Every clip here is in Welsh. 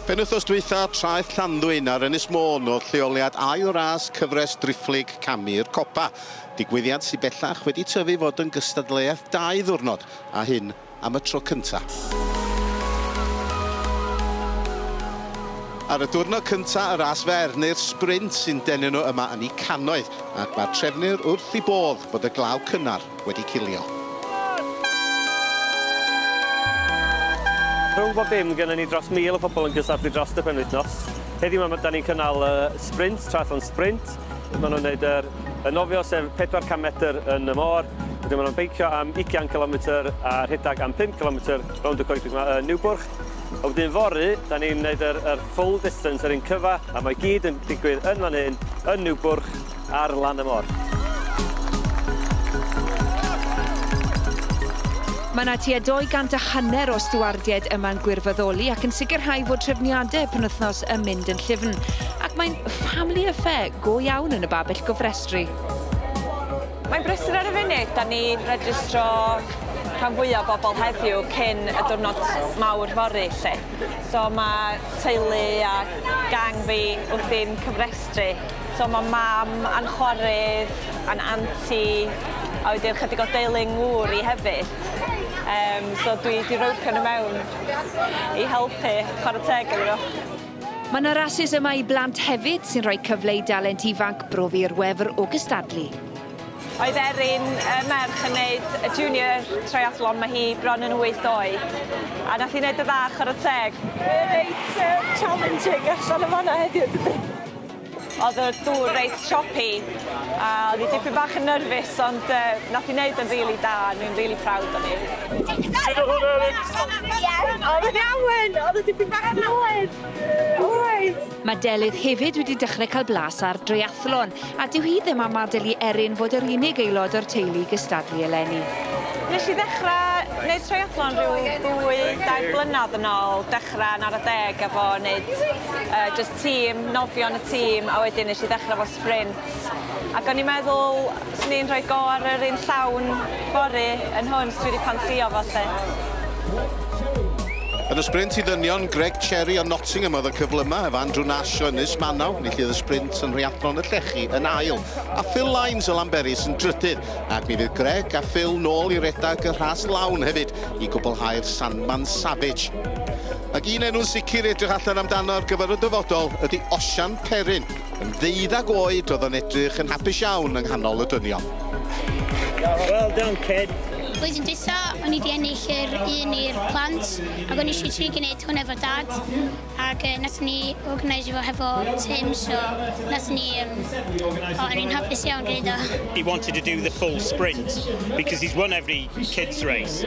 Penwythnos dwytha, traeth Llanddwyn ar Ynys Môn oedd lleoliad ail ras cyfres driphlyg camu'r copa, digwyddiad sy bellach wedi tyfu i fod yn gystadleuaeth dau ddiwrnod, a hyn am y tro cynta. Ar y diwrnod cynta, y ras fer, neu'r sprint sy'n denu nhw yma yn eu cannoedd, ac mae'r trefnwyr wrth eu bodd bod y glaw cynnar, wedi cilio. Rhwng bob dim, gynnon ni dros 1,000 o pobl yn cystadlu drost y penwythnos. Heddiw 'ma, 'dan ni'n cynnal y sprint, triathlon sprint. Ma' nhw'n neud yr y nofio, sef 400 metr yn y môr. Wedyn ma' nhw'n beicio am ugian cilometr a rhedag am pump cilometr rownd y coedwig 'ma yn Niwbwrch. A wedyn fory, 'dan ni'n neud yr yr full distance, yr un cyfa', a mae i gyd yn digwydd yn fan hyn, yn Niwbwrch. Ar lan y môr. Mae yna tua 200 a hanner o stiwardiaid yma'n gwirfoddoli ac yn sicrhau fod trefniadau y penwythnos yn mynd yn llyfn. Ac mae'n family affair go iawn yn y babell gofrestru. Mae'n brysur ar y funud, da ni'n registro rhan fwyaf o bobl heddiw cyn y diwrnod mawr fory lle. So mae teulu a gang fi wrthi'n cyfrestru. So mae mam a'n chwarydd a'n anti a wedyn ychydig o deulu yng ngŵr i hefyd. Um, so dwi wedi rhywpio nhw mewn i helpu chwarae teg iddyn nhw. Mae yna rasys yma i blant hefyd sy'n rhoi cyfle i dalent ifanc brofi i'r wefr o gystadlu. Oedd Erin y merch yn gwneud y junior triathlon, mae hi bron yn 8 oed. A nath hi wneud y dda chwarae teg. Reit uh, challenging allan y fanna heddiw dydy? Oedd y dŵr reit choppy a oedd hi dipyn bach yn nyrfus ond uh, nath i wneud yn rili really da, ni'n really proud o'n i. Sut oedd hwnna Erin? Oedd yn iawn, oedd y dipyn bach yn oed. Alright. Mae Delyth hefyd wedi dechrau cael blas ar dreiathlon, a dyw hi ddim am adael i Erin fod yr unig aelod o'r teulu gystadlu eleni. Nes i ddechrau gwneud treiathlon rhyw ddwy, dair blynedd yn ôl, dechrau yn ar y deg efo wneud uh, just tîm, nofio yn y tîm a wedyn nes i ddechrau fel sprint ac o'n i'n meddwl 'swn i'n rhoi go ar yr un llawn fory yn hwn 'chos dwi 'di ffansïo fo 'lly. Yn y sprint i ddynion, Greg Cherry o Nottingham oedd y cyflymaf ef Andrew Nash o Ynys Manaw, enillydd y sprint yn Rhiathlon y Llechi yn ail a Phil Lines o Lanberis yn drydydd ac mi fydd Greg a Phil nôl i redeg y rhas lawn hefyd i gwblhau'r Sandman Savage. Ac un enw'n sicr i edrych allan amdano ar gyfer y dyfodol ydy Osian Perrin. Yn ddeuddag oed oedd o'n edrych yn hapus iawn yng nghanol y dynion. Well done kid! Blwyddyn dwytha, o'n i di ennill yr un i'r plant ac o'n i eisiau trio gwneud hwn efo dad ac uh, nath ni organise fo hefo Tim so nath ni um, o, o'n i'n hapus iawn gwneud o. He wanted to do the full sprint because he's won every kids race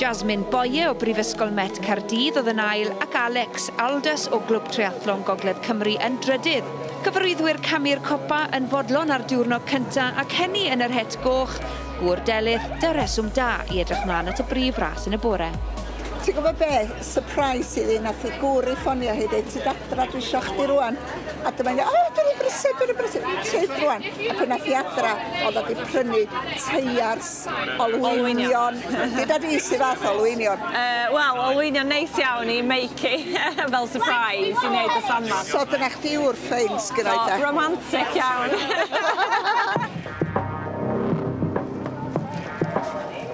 Jasmine Boye o Brifysgol Met Caerdydd oedd yn ail ac Alex Aldous o Glwb Triathlon Gogledd Cymru yn drydydd. Cyfarwyddwyr camu'r copa yn fodlon ar diwrnod cyntaf ac hynny yn yr het goch, gŵr Delyth, da reswm da i edrych mlaen at y brif ras yn y bore. Ti'n gwybod be? Surprise i fi, nath i gŵr i ffonio hi ddeud ti adra dwi isio chdi rwan. A dyma ni, o dwi'n brysur, dwi'n brysur, tyd rwan. A pan nath i adra, oedd o di prynu teiars Olwynion. Gyda fi sydd fath olwynion? Uh, Wel, olwynion neis iawn i Meiki, fel surprise i wneud y samma. So dyna chdi yw'r ffein sgynna i ta? Romantic iawn.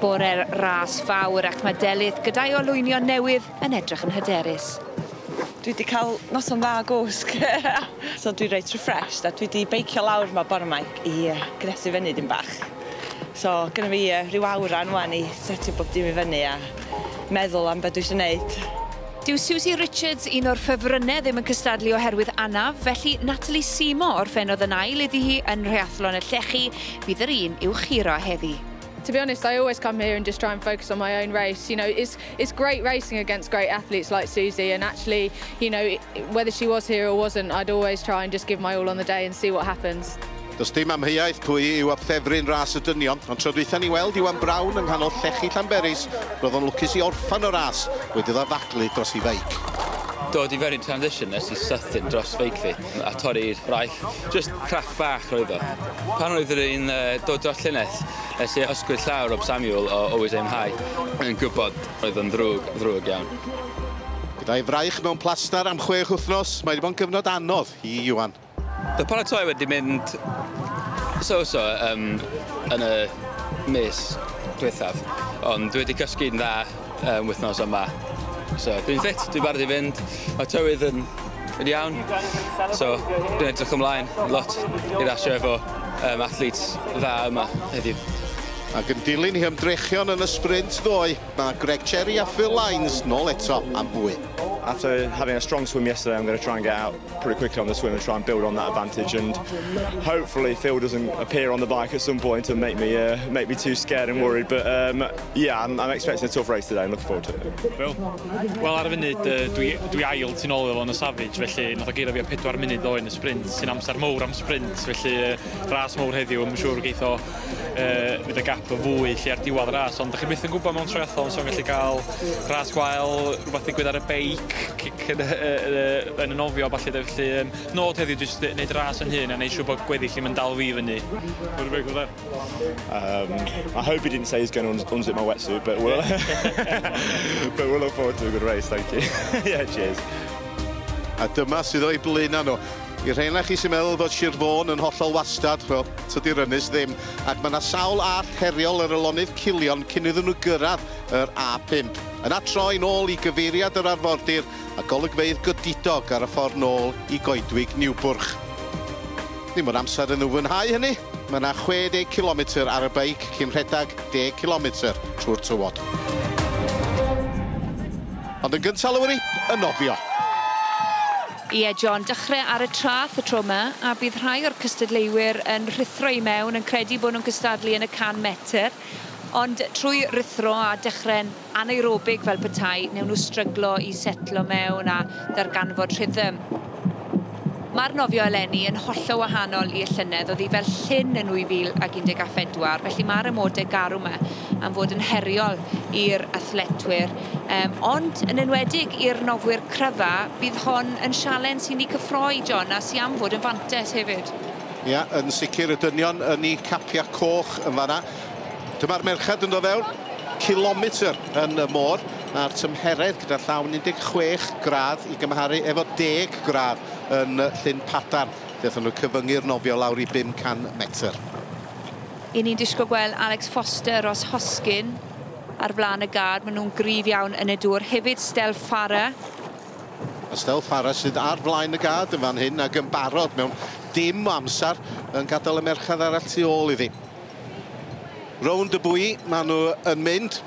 Bore'r ras fawr ac mae Delyth gyda'i olwynion newydd yn edrych yn hyderus. Dwi wedi cael noson dda o gwsg. so dwi reit refreshed a dwi wedi beicio lawr ma bore ma i gnesu fyny dim bach. So gynna fi yy ryw awran ŵan i setio bob dim i fyny a meddwl am be' dwi isio neud. Dyw Susie Richards, un o'r ffefrynnau ddim yn cystadlu oherwydd anaf, felly Natalie Seymour orffennodd yn ail iddi hi yn Nhreathlon y Llechi, fydd yr un i'w churo heddi. To be honest, I always come here and just try and focus on my own race, you know, it's It's great racing against great athletes like Susie and actually, you know, whether she was here or wasn't, I'd always try and just give my all on the day and see what happens. Does dim amheuaeth pwy yw abffefryn ras y dynion, ond tro dwytha ni weld Iwan Brown yng nghanol llechi Llanberis, roedd o'n lwcus i orffan y ras wedi ddathlu dros ei feic. Dod i fewn i'r transition nes i sydyn dros feic fi. a torri'r braich. Jyst craff fach roedd o. Pan oedd rwy'n dod dros llynedd, es i ysgwyd llaw Rob Samuel o Always Aim High. Yn gwybod, oedd o'n ddrwg, ddrwg iawn. Gyda'i fraich mewn plastar am chwech wythnos, mae wedi bod yn gyfnod anodd i Iwan. Mae paratoi wedi mynd so-so yn y mis diwethaf, ond dwi wedi cysgu'n dda. um, wythnos yma. So, dwi'n ffit, dwi'n barod i fynd. Mae tywydd yn, yn iawn. So, dwi'n edrych ymlaen lot i rasio efo um, athletes dda yma heddiw. Ac yn dilyn i ymdrechion yn y sprint ddoe, mae Greg Cherry a Phil Lines nôl eto am fwy. After having a strong swim yesterday, I'm going to try and get out pretty quickly on the swim and try and build on that advantage. And hopefully Phil doesn't appear on the bike at some point and make me uh, make me too scared and worried. But um, yeah, I'm, I'm expecting a tough race today. I'm looking forward to it. Phil, well, ar y funud, uh, dwi, dwi ail ti'n ôl efo yn y Savage, felly nath o geiro fi o 4 munud ddoe yn y sprint, sy'n amser mowr am sprint, felly uh, ras mowr heddiw, yn siŵr geitho uh, fydd y gap yn fwy lle ar diwedd ras, ond da chi byth yn gwybod mewn triathlon, so'n gallu cael ras gwael, rhywbeth digwydd ar y beic, cic yn, uh, yn y nofio, falle da, felly um, nod heddiw jyst wneud ras yn hyn a wneud siŵr bod gweddill i'n dal fi fyny. What do you make of that? Um, I hope he didn't say he's going to unzip my wetsuit, but we'll, but we'll look forward to a good race, thank you. yeah, cheers. A dyma sydd o'i blaenau nhw. I rheina chi sy'n meddwl fod Sir Fôn yn hollol wastad, wel, Tydi'r ynys ddim, ac mae 'na sawl allt heriol ar y lonydd culion cyn iddyn nhw gyrraedd yr A5. Yna troi'n ôl i gyfeiriad yr arfordir a golygfeydd godidog ar y ffordd nôl i goedwig Niwbwrch. Ddim yn amser yn ymwynhau hynny, mae 'na 60 cilometr ar y beic cyn rhedeg 10 cilometr trwy'r tywod. Ond yn gyntaf, Lowri, y nofio! Ie, John, dychre ar y trath y tro 'ma, a bydd rhai o'r cystadleuwyr yn rhuthro i mewn, yn credu bod nhw'n cystadlu yn y 100 metr, ond trwy ruthro a dechre'n anaerobig fel petai, newn nhw stryglo i setlo mewn a darganfod rhythm. Mae'r nofio eleni yn hollol wahanol i y llynedd, o'dd hi fel llyn yn 2014, felly mae'r amode garw 'ma am fod yn heriol i'r athletwyr. Yym, ond yn enwedig i'r nofwyr cryfa, bydd hon yn sialens i ni cyffroi, John, a sy am fod yn fantes hefyd. Ia, yn sicr, y dynion yn eu capiau coch yn fanna. Dyma'r merched yn dod fewn, cilometr yn y môr, a'r tymheredd gyda llaw yn 16 gradd i gymharu efo 10 gradd yn Llyn Padarn, lle aethon nhw cyfyngu'r nofio lawr i 500 metr. Y'n ni'n disgwyl gweld Alex Foster os hosgyn. Ar flaen y gad, maen nhw'n gryf iawn yn y dŵr. Hefyd Stel Farah. A Stel Farah sydd ar flaen y gad yn fan hyn ac yn barod mewn dim o amser yn gadael y merched arall tu ôl iddi. Rownd y bwy maen nhw yn mynd.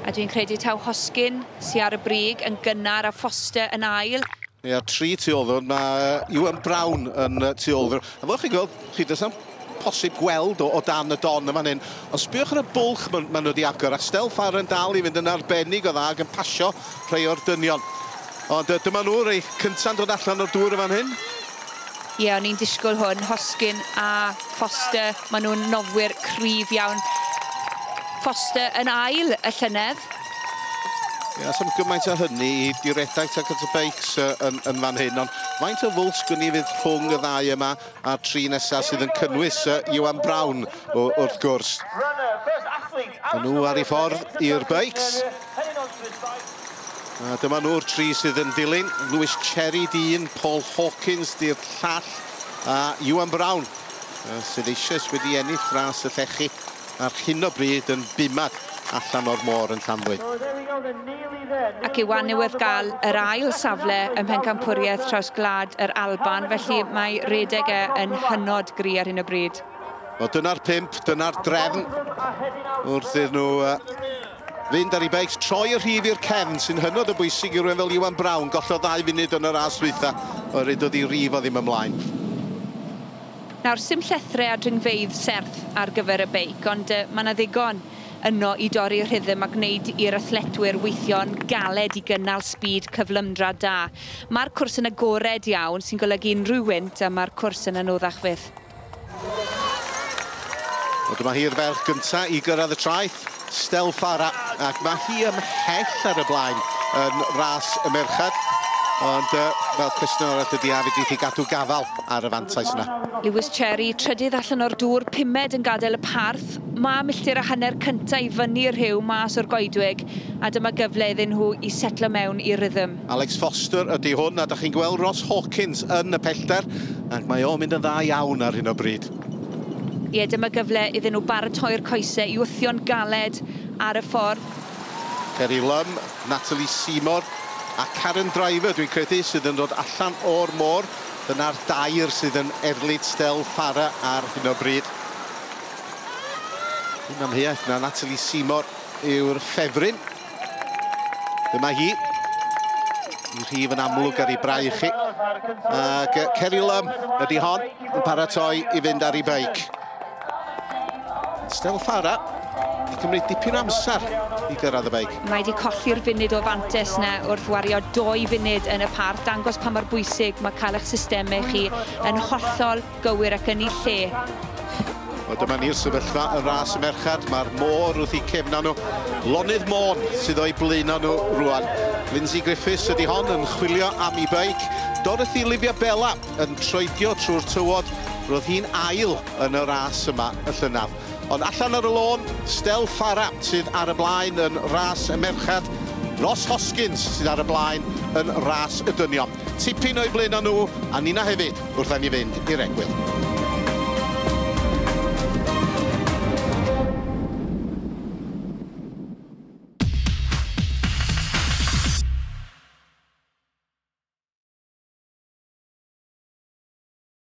A dwi'n credu taw Hoskin sy ar y brig yn gynnar a Foster yn ail. Ia, tri tu ôl ddwr. Mae Iwan Brown yn tu ôl ddwr. A fel chi'n gweld, chi does am posib gweld o, o dan y don yn fan hyn. Ond sbïwch ar y bwlch maen ma nhw wedi agor, a Stel Farr yn dal i fynd yn arbennig o dda ac yn pasio rhai o'r dynion. Ond uh, dyma nhw, rei cynta'n dod allan o'r dŵr yn fan hyn. Ie, yeah, o'n i'n disgwyl hwn. Hoskin a Foster, maen nhw'n nofwyr cryf iawn. Foster yn ail y llynedd. Ie, yeah, sy'n gymaint o hynny i diredaeth ac at y beics uh, yn, yn fan hyn, ond faint o fwlch gwn i fydd rhwng y ddau yma, A'r tri nesaf sydd yn cynnwys Iwan Brown wrth gwrs. Mae nhw ar ei ffordd i'r beics. A dyma nhw'r tri sydd yn dilyn. Lewis Cherry dyn, Paul Hawkins di'r llall a Iwan Brown sydd eisoes wedi ennill ras y llechi. ar hyn o bryd yn bumad allan o'r môr yn Llanddwyn. Ac i wan yw ef gael yr ail safle ym Mhencampwriaeth Traws Gwlad yr Alban, felly mae rhedeg e yn hynod gry ar hyn o bryd. Wel, dyna'r pump, dyna'r drefn wrth iddyn nhw fynd ar ei beics, troi y rhif i'r cefn, sy'n hynod o bwysig i rywun fel Iwan Brown, gollodd ddau funud yn y ras ddwytha, oherwydd doedd ei rif o ddim ymlaen. Nawr, sim llethrau a dringfeydd serth ar gyfer y beic, ond mae 'na ddigon yno i dorri rhythm a gwneud i'r athletwyr weithio yn galed i gynnal sbîd cyflymdra da. Mae'r cwrs yn agored iawn, sy'n golygu unrhyw wynt a mae'r cwrs yn anoddach fyth. Wel, dyma hi'r ferch gyntaf i gyrraedd y traeth. Stell Farah, ac mae hi ymhell ar y blaen yn ras y merched. Ond uh, fel cwestiwn arall ydy a fydd i gadw gafal ar y fantais yna. Lewis Cherry, trydydd allan o'r dŵr, pumed yn gadael y parth. Mae milltir a hanner cyntaf i fyny y rhyw mas o'r goedwig a dyma gyfle iddyn nhw i setlo mewn i rhythm. Alex Foster ydy hwn a da chi'n gweld Ross Hawkins yn y pellter ac mae o'n mynd yn dda iawn ar hyn o bryd. Ie, dyma gyfle iddyn nhw baratoi'r coesau i wthio'n galed ar y ffordd. Ceri Lum, Natalie Seamore a Karen Driver, dwi'n credu, sydd yn dod allan o'r môr. Dyna'r dair sydd yn erlid Stel Farah ar hyn o bryd. Yn amheuaeth na Natalie Seamore yw'r ffefryn. Dyma hi. I rhif yn amlwg ar ei brau chi. Ac Ceri Lum ydy hon yn paratoi i fynd ar ei beic. Stel Fara i cymryd dipyn amser i gyrraedd y beic. Mae wedi colli'r funud o fantes na wrth wario doi funud yn y parth, dangos pa mor bwysig mae cael eich systemau chi yn hollol Gywir ac yn ei lle. Wel dyma ni'r sefyllfa y ras y merched. Mae'r môr wrth i cefna nhw. Lonydd Môn sydd o'i blaenau nhw rwan. Lindsay Griffiths ydy hon yn chwilio am i beic. Dorothy Livia Bella yn troedio trwy'r tywod. Roedd hi'n ail yn y ras yma y llynaf. Ond allan ar y lôn, Stel Fara sydd ar y blaen yn ras y merched. Ross Hoskins sydd ar y blaen yn ras y dynion. Tipyn o'u blino nhw, a ninna hefyd, wrth i ni fynd i'r egwyl.